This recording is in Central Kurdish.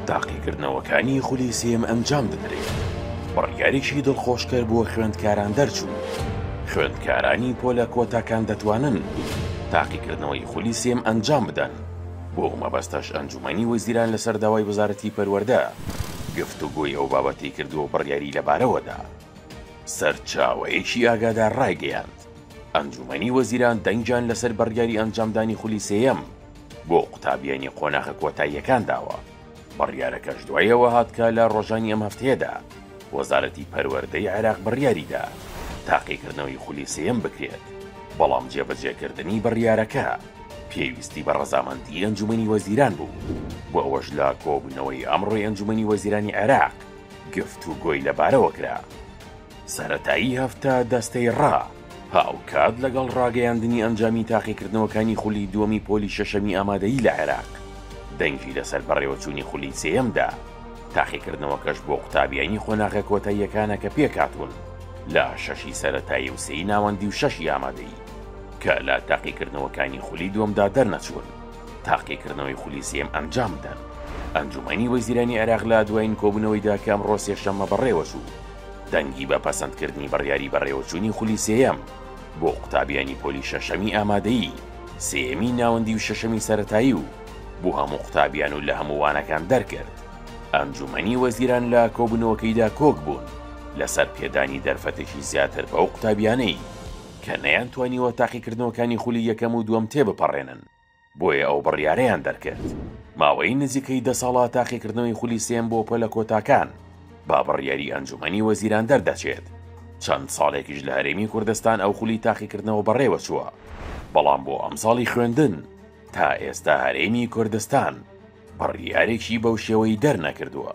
تاقیکردنەوەکانی خولی سێم ئەنجام بدرێت بڕیارێکی دڵخۆشکەر بۆ خوێندکاران دەرچوو خوێندکارانی پۆلە کۆتاکان دەتوانن تاقیکردنەوەی خولی سێم ئەنجام بدەن بۆ مەبەستەش ئەنجومەنی وەزیران لەسەر داوای وەزارەتی پەروەردە گفتوگۆی ئەو بابەتی کردو بڕیاری لەبارەوەدا سەرچاوەیەکی ئاگادار ڕایگەیاند ئەنجوومەنی وەزیران دەنگیان لەسەر بڕیاری ئەنجامدانی خولی سێیەم بۆ قوتابیانی قۆناخە کۆتاییەکان داوە، بڕیارەکەش دوای ئەوە هات کە لە ڕۆژانی ئەم هەفتەیەدا وەزارەتی پەروەردەی عێراق بڕیاریدا تاقیکردنەوەی خولی سێیەم بکرێت، بەڵام جێبەجێکردنی بڕیارەکە پێویستی بە ڕەزامەندی ئەنجوومەنی وەزیران بوو و ئەوەش لە کۆبوونەوەی ئەمڕۆی ئەنجوومەنی وەزیرانی عێراق گفتوگۆی لەبارەوە کرا. سەرەتایی هەفتە دەستەی ڕا، هاوکات لەگەڵ ڕاگەیاندنی ئەنجامی تاقیکردنەوەکانی خولی دووەمی پۆلی شەشەمی ئامادەیی لە عێراق، دەنگی لەسەر بەڕێوەچوونی خولی سێیەم دا، تاقیکردنەوەکەش بۆ قوتابیانی قۆناغە کۆتاییەکانە کە پێکهاتوون لە شەشی سەرەتایی و سێی ناوەندی و شەشی ئامادەیی کە لە تاقیکردنەوەکانی خولی دووەمدا دەرنەچوون تاقیکردنەوەی خولی سێیەم ئەنجام بدەن. ئەنجومەنی وەزیرانی عێراق لە دوایین کۆبوونەوەیدا کە ئەمڕۆ سێشەممە بەڕێوەچوو، دەنگی بە پەسەندکردنی بڕیاری بەڕێوەچوونی خولی سێیەم بۆ قوتابیانی پۆلی شەشەمی ئامادەیی، سێیەمی ناوەندی و شەشەمی سەرەتایی و بۆ هەموو قوتابیان و لە هەموو وانەکان دەرکرد. ئەنجوومەنی وەزیران لە کۆبوونەوەکەیدا کۆکبوون لەسەر پێدانی دەرفەتێکی زیاتر بەو قوتابیانەی کە نەیانتوانیوە تاقیکردنەوەکانی خولی یەکەم و دووەم تێبپەڕێنن. بۆیە ئەو بڕیارەیان دەرکرد ماوەی نزیکەی دە ساڵە تاقیکردنەوەی خولی سێم بۆ پۆلە کۆتاکان بە بڕیاری ئەنجومەنی وەزیران دەردەچێت، چەند ساڵێکیش لە هەرێمی کوردستان ئەو خولی تاقیکردنەوە بەڕێوەچووە، بەڵام بۆ ئەمساڵی خوێندن تا ئێستا هەرێمی کوردستان بڕیارێکی بەو شێوەی دەرنەکردووە.